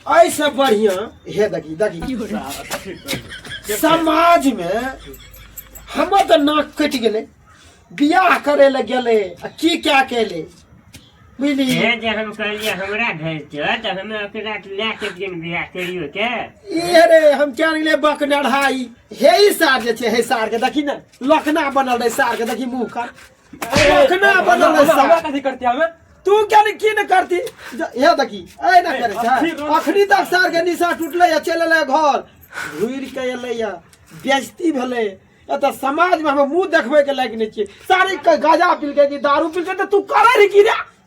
ऐसे बढ़िया हे देखी देखी समाज में हमर तो नाक कटि गेलै बियाह करे ले गेलै आ की क्या केले बुझली हे जे हम कहलियै हमरा भेज दिअ तऽ हमे ओकरा लए के दिन बियाह करियो के ई रे हम क्या गेलै बकनढ़ाई हे ई सार जे छै हे सार के देखी ने लखना बनल रहे सार के देखी मुंह का रखना अपन हमरा कथी करती हमें तू क्या ने की ने करती या देखी ए ना करे छा अखनी तक सार के निशा टूटले या चले ले घर घुर के एले या बेइज्जती भेले या त समाज में हम मुंह देखबे के लायक नै छी सारे के गाजा पिल के कि दारू पिल के त तू करे रे की रे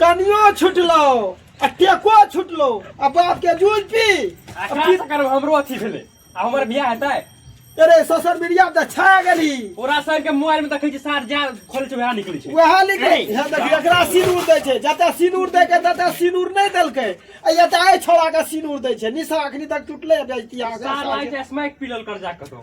कनियो छुटलो आ टेको छुटलो आ बाप के जूझ पी आ अब का की- से करब हमरो अथी भेलै आ हमर बियाह हेतै अरे सोशल मीडिया पर छा गेली पूरा शरीर के मोबाइल में देखै छी सार जा खोलै छै वएह निकलै छै वएह लिख हे, यहाँ देख एकरा सिनूर दै छै जतऽ सिनूर दै के ततऽ सिनूर नहि देलकै आ एतऽ आइ छोड़ा के सिनूर दै छै निशा अखनी तक टूटले जाइ सार लागै तिया छै स्मैक पीलल कर जा कतौ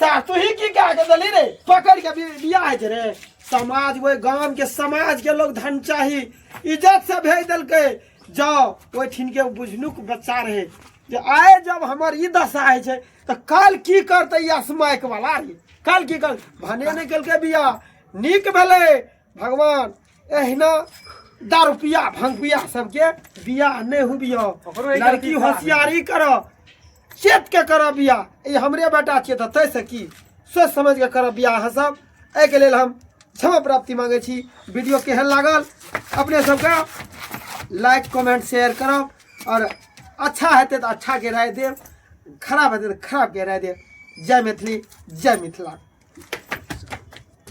सा तू ही की कह के दली रे पकड़ के बि- बियाह जे रे समाज वो गांव के समाज के लोग धन चाही इज्जत से भेज देलके जाओ वो ठिन के बुझनुक बच्चा रहे जे आए जब हमर ई दशा है छे तो काल की करते ई असमयक वाला रे काल की कर भने ने केलके बियाह नीक भेले भगवान एहिना दारू पिया भंग पिया सबके बियाह नहि हुबियो ओकरो एक लड़की अथी होशियारी करऽ चेत के करऽ बियाह ई हमरे बेटा छियै तऽ तैसँ की सोच समझ के करऽ बियाह अहाँ सब एहिके लेल हम क्षमा प्राप्ति मांगै छी वीडियो केहन लागल अपने सबके लाइक कमेंट शेयर करब और अच्छा हेतै तऽ अच्छा के राय देब खराब हेतै तऽ खराब के राय देब जय मैथिली जय मिथिला